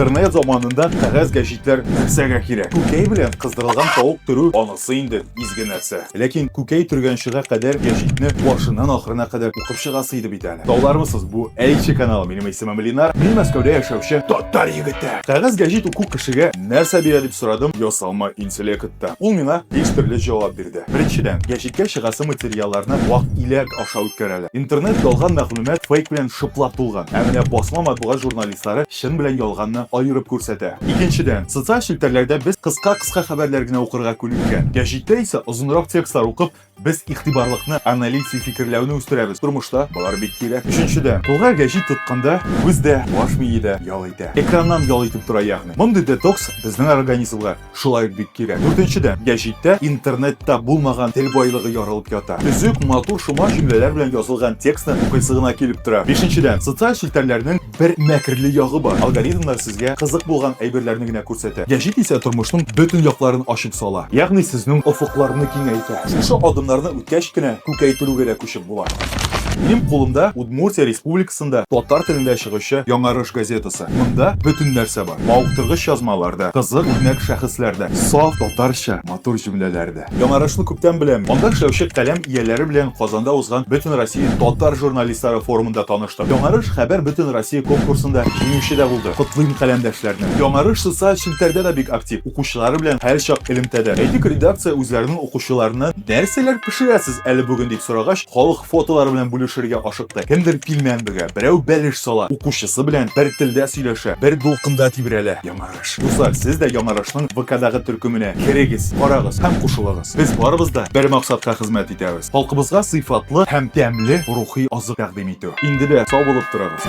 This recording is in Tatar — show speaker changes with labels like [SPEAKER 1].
[SPEAKER 1] Интернет заманында кәгазь гәҗитләр нәрсәгә кирәк? Күкәй белән кыздырылган тавык төрү анысы инде изге нәрсә. Ләкин күкәй төргәнчегә кадәр гәҗитне башыннан ахырына кадәр укып чыгасы иде бит әле. Таулармысыз, бу Әйче каналы, минем исемем Ленар, мин Мәскәүдә яшәүче татар егете. Кәгазь гәҗит уку кешегә нәрсә бирә дип сорадым ясалма интеллектта. Ул миңа биш төрле җавап бирде. Беренчедән, гәҗиткә чыгасы материалларны вак иләк аша үткәрәләр. Интернет ялган мәгълүмат, фейк белән шыплап тулган. Ә менә басма матбугат журналисты, сары чын белән ялганны аерып күрсәтә. Икенчедән, социаль челтәрләрдә без кыска-кыска хәбәрләр генә укырга күнеккән. Гәҗиттә исә озынрак текстлар укып, без игътибарлыкны, аналитик фикерләүне үстерәбез. Тормышта болар бик кирәк. Өченчедән, кулга гәҗит тотканда, күз дә, баш мие дә ял итә. Экраннан ял итеп тора ягъни. Мондый детокс безнең организмга Шулай ук бик кирәк. Дүртенчедән, гәҗиттә интернетта булмаган тел байлыгы ярылып ята. Төзек, матур, шома җөмләләр белән язылган текстны укыйсы гына килеп тора. Бишенчедән, социаль челтәрләрнең бер мәкерле ягы бар, алгоритмнар сезгә кызык булган әйберләрне генә күрсәтә. Гәҗит исә тормышның бөтен якларын ачып сала, ягъни сезнең офыкларны киңәйтә. Шушы адымнарны үткәч кенә күкәйтелүгә дә күчеп була. Минем кулымда Удмуртия Республикасында татар телендә чыгучы Яңарыш газетасы. чыкты. Монда бөтен нәрсә бар. Мавыктыргыч язмалар да, кызык үрнәк шәхесләр дә, саф татарча матур җөмләләр дә. Яңарышны күптән беләм. Анда эшләүче каләм ияләре белән Казанда узган Бөтенроссия татар журналистлары форумында таныштым. Яңарыш Хәбәр Бөтенроссия конкурсында җиңүче дә булды. Котлыйм каләмдәшләрне. Яңарыш социаль челтәрдә дә бик актив. Укучылары белән һәрчак элемтәдә. Әйтик, редакция үзләренең укучыларыннан нәрсәләр пешерәсез әле бүген дип сорагач, Халык фотолары белән бүлешергә ашыкты. Кемдер пилмән бөгә, берәү бәлеш сала, укучысы белән бер телдә сөйләшә, бер дулкында тибрәлә. Яңарыш. Дуслар, сез дә Яңарышның ВКдагы төркеменә керегез, карагыз һәм кушылыгыз. Без барыбыз да бер максатка хезмәт итәбез, халкыбызга сыйфатлы һәм тәмле рухи азык тәкъдим итү. Инде дә сау булып торыгыз!